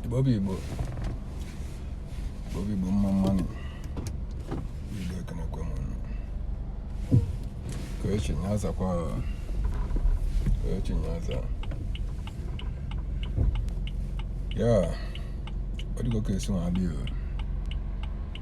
Igbo bụ Igbo Igbo bụ Igbo mma mmanụ Igbo ekenekwe m ụnụ ke onye chi ya zakwa ke onye chi ya zaa ya ọ dịgo ka esi nwa adịghị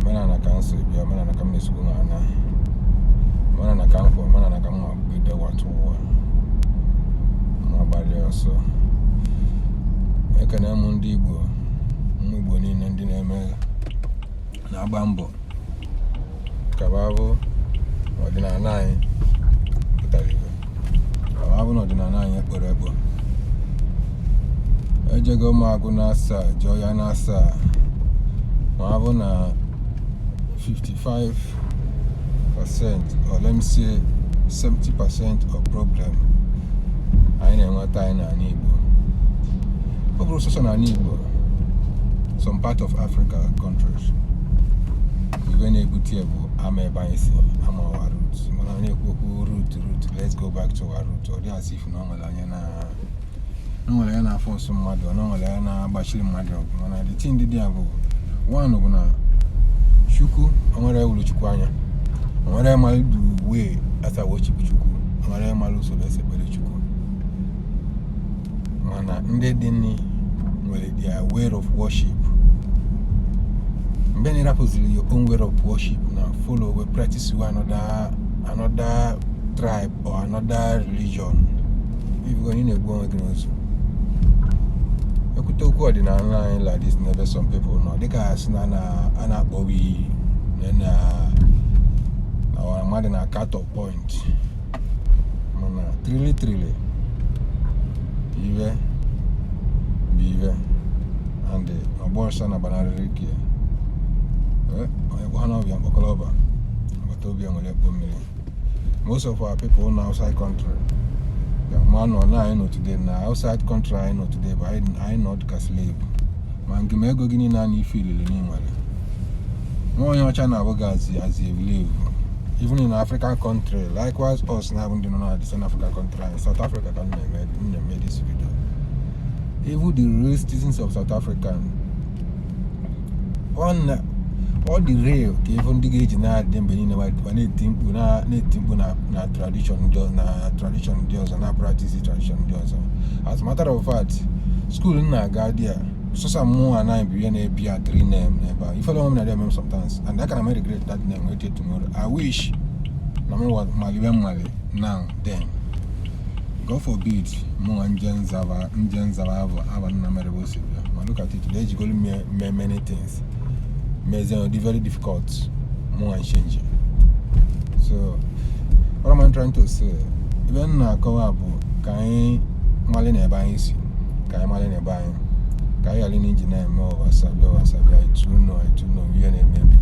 omenala ka m so bịa omenala ka m na-esikwu na ana omenala ka m kwụ omenala ka m ma bido wata ụwa ma gbalịa ọsọ ekene m ndị igbo nwe igbo niile ndị na-eme na-agba mbọ ka ọ ga-abụ ọdịnala anyị pụtara ife ka ọ ga-abụ na ọdịnala anyị ekporo ekpo ejego m agụ na asaa jụọ ya na asaa ma abụ na 55 percent or let me say 70 percent of problem anyị na-enweta anyị n'ala Igbo ọ bụrọ sọsọ n'ala Igbo some part of Africa countries ife na-ebute ya bụ ama ebe anyị si ama our root mana ọ na-ekwu okwu root root let's go back to our root ọ dị as if na ọ nwere onye na ọ nwere onye na-aforce mmadụ ọ na ọ nwere onye na-agbachiri mmadụ ọgụ mana the thing dị dị ya bụ one bụ na chukwu o nwere onye fụrụ chukwu anya o nwere onye malụ the way esi aworship chukwu o nwere onye malụ usoro esi ekpere chukwu mana ndị dịnị nwere their way of worship mgbe na ị rapụziri your own way of worship na-afollow wee practicewe another another tribe or another religion ị fụgo ị na-egbu onwe gị n'ozu e kwute okwu ọdịnala anyị like this n'ebe some people nọ dịka a sị na a na- a na-akpọbi na na na mmadụ na cut off point mana truly truly ife bụ ife and ị ma-agba ọsọ na gbanarịrị ike onye kpọọ ọba ya mkpọkọlọ ọba agbata obi ya ewere ya kpo mmiri most of our people na outside country ya ma nọ na anyị nọ today na outside country anyị nọ today bụ anyị nọ dịka slave ma ngị ma ego gị niile a na ife niile i nwere nwa onye ọcha na-afụ gị as as a slave even in african country likewise us na-abụ ndị nọ na the south african country anyị south africa ka m na-eme m na-eme this video even the real citizens of south africa ọ na ọ dị rare ka ị fụ ndị ga-eji na-adị mgbe niile ma ma na-eti mkpu na- na-eti mkpu na na tradition ndị ọ- na tradition ndị ọzọ na-apractice tradition ndị ọzọ as a matter of fact school m na-aga dị a sọsọ mụ anaghị bụ ihe na-ebi a three name n'ebe a ifere onwe m na-adị eme m sometimes and I can regret that name wait till tomorrow I wish na m wa- mali ive m mali now then God forbid mụ nwa nje nzaba nje nzaba abụ ava nna mere bụ osi bịa ma look at it na ejigolu m mee mee many things mezie ọ dị very difficult mụ nwa ịchenji so what am I trying to say ive m na-akọwa bụ ka anyị malị na ebe anyị si ka anyị malị na ebe anyị ka anyị ghara na-eji na-eme oversabi oversabi I too know I too know ihe na-emebi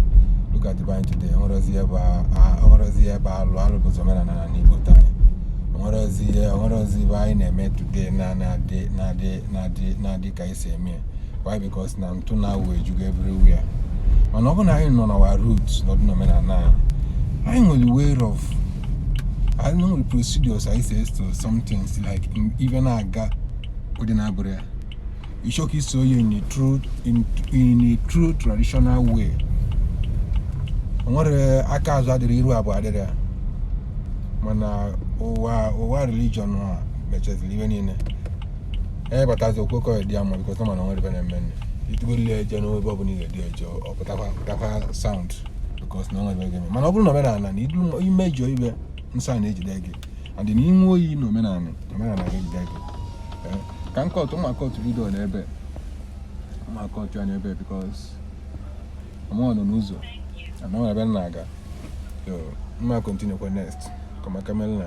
look at be anyị today enwerozi ebe a- a- enwerozi ebe alụ alụ bụ ụzọ omenala na n'igbo taa enwerozi ihe enwerozi ive anyị na-eme today na na-adị na-adị na-adị na-adị ka anyị si eme ya why because na ntụ na awụwọ ejugo everywhere mana ọ bụrụ na anyị nọ na our root nọdụ n'omenala anyị anyị nwere way of anyị nwere procedures anyị si eso some things like in- ive na-aga ụdị na-abụrụ ya ị chọka iso ya in a true in, in a true traditional way o nwere aka azụ adịrọ iru abụọ adịrọ ya mana ụwa ụwa religion a mechaziri ive niile onye batazi okwekọ ya dị ya mma because ọ ma na nwere bere mme nne itugolu ya eje n'ebe ọ bụla ị ga-edi eje ọ pụtakwa pụtakwa sound because na nwere gị mana ọ bụrụ na omenala na idu imejọ ive nsọ na-ejide gị adị na ị ṅụọ iyi na omenala omenala ga-ejide gị Eh, ka m cut m ma cut video n'ebe m ma cut ya n'ebe because ọ mụ nwa nọ n'ụzọ ana ọ ebe m na-aga so m ma continuekwa next kọmaka mel na